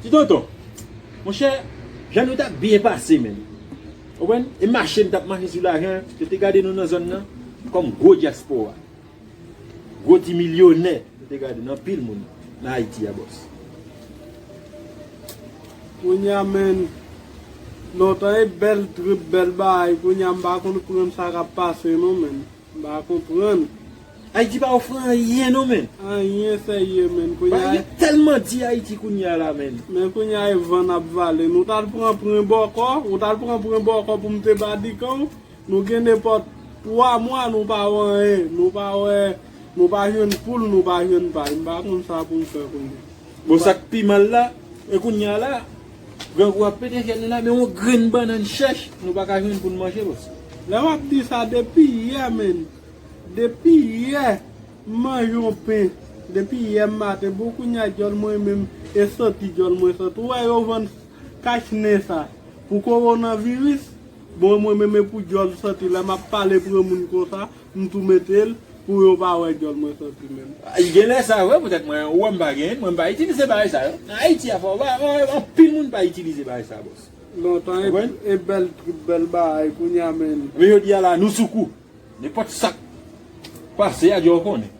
Ti tonton, monchè, jan nou t ap byen pase menm. Ou konprann? E mache n t ap mache sou lajan an. Yo te gade nou nan zòn nan kòm gwo dyaspora. Gwo ti milyonè yo te gade nou, anpil moun nan Ayiti a bòs. Kounye a menn, lontan e bèl trip, bèl bagay, kounye a m pa konprann sa k ap pase non menn. M pa konprann. Ayiti pa ofri anyen non men. Anyen serye menn kounya. Bagay yo telman di ayiti kounya la menn. Men kounya e van nap vale. Nou tal pran pren bòkò. Ou tal pran pren bòkò pou mnte badikanw. Nou gen nepòt 3 mwa nou pa wè anyen. Nou pa wè nou pa jwenn poul nou pa jwenn pay. M pa konn sa poum fè kounya. Bon sak pi mal la. E kounya la. Grangou ap pete fyèl li la men yon grenn bannann chèch nou pa ka jwenn pou n manje bòs. Lè wap di sa depi yè menn depi yè m manje yon pen depi yè maten pou kounya dyòl mwen menm e soti dyòl mwen sot ou wè yo vann kach nen sa pou kowonan viris bon mwen menm e pou dyòl soti lè map pale pre moun konsa M tou metel pou yo pa wè dyòl mwen tanpri menm. Genlè sa vre poutèt mwen wè m pa gen, mwen m pa itilize bagay sa yo. Ayiti a fò, anpil moun pa itilize bagay sa boss. Lontan e bèl trip bèl bagay kounya menn. Men jodi a la nou sou kou. Nenpòt sak pase a djòw konnen.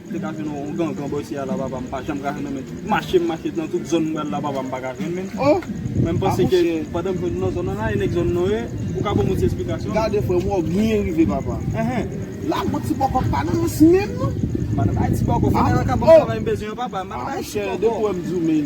M te ka jwenn yon gangan bò isi a la papa m pa janm ka jwenn men mache m mache nan tout zòn m pral la papa m pa ka jwenn menn men m panse ke pandan m jwenn nan zòn nan la e nèg zòn nan yo ou ka ban m yon ti esplikasyon gade frè m wè w byen rive papa lago ti bòkò pa nan rans menm non m pa nan bay ti bòkò fè nèg la ka ban m travay m bezwen an papa m pa nan bay ti bòkò a mon chè depi w wè m di w men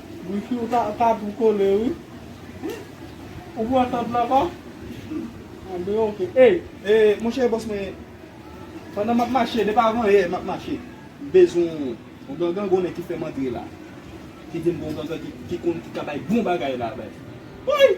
Wifi ou ta ta tou kole wi. Ou pran tant la pa? An ben ok. Ey e monchè bòs mwen pandan map mache depi avan yè map mache m bezwen yon gangan gounen ki fèm antre la ki vin gon gangan ki konn ki ka bay bon bagay la bay wouyy.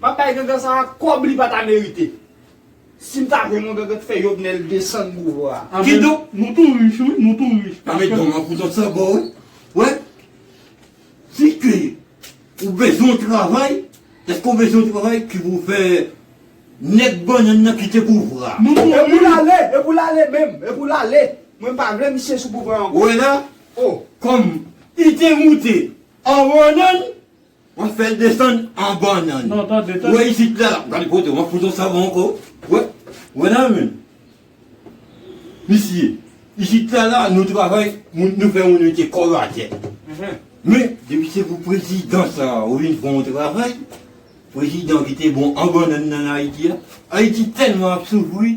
Map bay gangan sa a kob li pata merite. Sim ta jwenn yon gangan k fè Jovenel desann pouvwa a. Ki donk nou tou rich wi, nou tou rich. Nan men dom an pou zot san bon wi. Wè si ke ou bezwen yon travay, eske ou bezwen yon travay ki pou fè nèg bannann nan kite pouvwa a. E pou l ale, e pou l ale menm, e pou l ale. Mwen pa vle misye sou pouvwa a ankò. Ou wè la, kòm li te moute an bannann. Wap fel desann an bannann. Wè isit la. Wap gade pote wap fout yon savon anko. Wè. Wè nan men. Misye. Isit la la nou travay moun nou fè moun mete kòl atè. Men depi se pou prezidan sa a ou vin fè yon travay. Prezidan ki te bon an bannann nan Ayiti a. Ayiti telman ap soufri.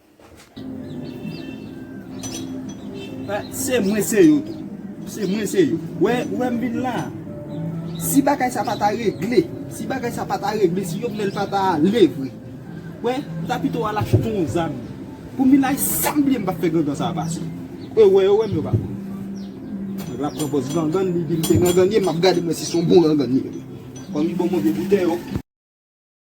Se mwen se yo tou. Se mwen se yo. Ou wè m vin la a. Si bagay sa pa ta regle. Si bagay sa pa ta regle. Si Jovenel pa ta ale vre. Ou wè. M ta pito al achte yon zam. Pou m vin la a. San m bliye m pa fè gangan sa a pase. Ou wè yo wè m yo pa wè m. Nèg la pran pòz gangan. Li di m se gangan li ye. M ap gade m wè si son bon gangan li ye. Kòm li ban m yon vye boutèy yo.